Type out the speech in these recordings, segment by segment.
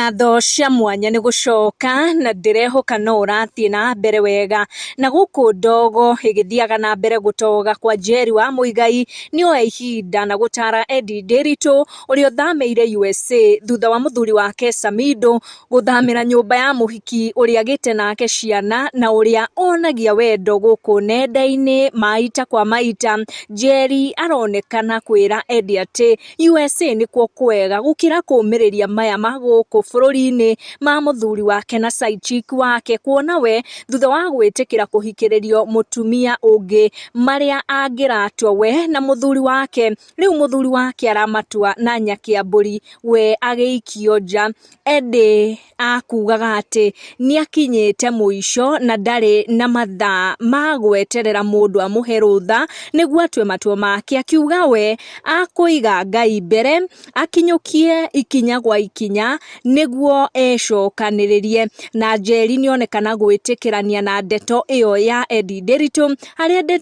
ngatho cia mwanya nĩ gũcoka na ndĩrehoka no ũrathiĩ na mbere wega. Na gũkũ ndogo ĩgĩthiaga na mbere gũtoga kwa Njeri wa Muigai nĩ oya ihinda na gũtara Eddie Ndiritu ũrĩa ũthamĩire USA thutha wa mũthuri wake Samido gũthamĩra nyũmba ya mũhiki ũrĩa agĩte nake ciana na ũrĩa onagia wendo gũkũ nenda-inĩ. Maita kwa maita Njeri aronekana kwĩra Eddie atĩ... USA nĩkuo kwega gũkĩra kũũmĩrĩria maya ma gũkũ bũrũri-inĩ ma mũthuri wake na side chick wake kuona we thutha wa gwĩtĩkĩra kũhikĩrĩrio mũtumia ũngĩ marĩa angĩratua we na mũthuri wake rĩu mũthuri wake aramatua na nyaki ya mbũri we agĩikio nja ĩndĩ akugaga atĩ nĩ akinyĩte mũico na ndarĩ na mathaa ma gweterera mũndũ amũhe rũtha nĩguo atue matua make, akiuga we akũiga Ngai mbere, akinyũkie ikinya gwa ikinya nĩguo ecokanĩrĩrie. Na Njeri nĩ onekana gwĩtĩkĩrania na ndeto ĩyo ya Eddie Nderitu, harĩa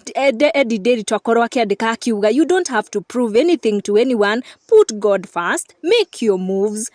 Eddie Nderitu akorwo akĩandĩka akiuga, You don't have to prove anything to anyone, put God first, make your moves.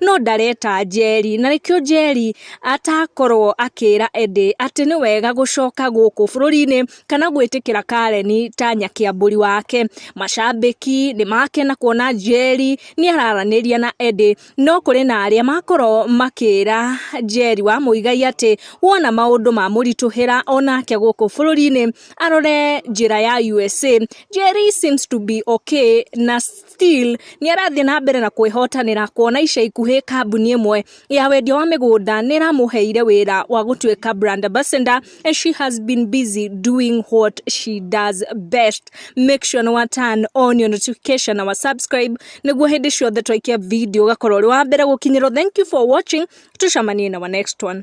no ndareta Njeri, na nĩkĩo Njeri atakorwo akĩra Eddie atĩ nĩ wega gũcoka gũkũ bũrũri-inĩ kana gwĩtĩkĩra Karen ta nyakĩambũri wake. Macambĩki nĩ makena kuona Njeri nĩ araranĩria na Eddie, no kũrĩ na arĩa makorwo makĩra Njeri wa Muigai atĩ wona maũndũ mamũritũhĩra onake gũkũ bũrũri-inĩ arore njĩra ya USA. Njeri seems to be okay na Still nĩ arathiĩ na mbere na kwĩhotanĩra kuona ica ikuhĩ kambuni ĩmwe ya wendia wa mĩgũnda nĩ ĩramũheire wĩra wa gũtuĩka brand ambassador and she has been busy doing what she does best. Make sure nĩ wa turn on your notification na wa subscribe nĩguo hĩndĩ ciothe twaikia video ũgakorwo ũrĩ wa mbere gũkinyĩrwo. Thank you for watching, tucamanie na wa next one.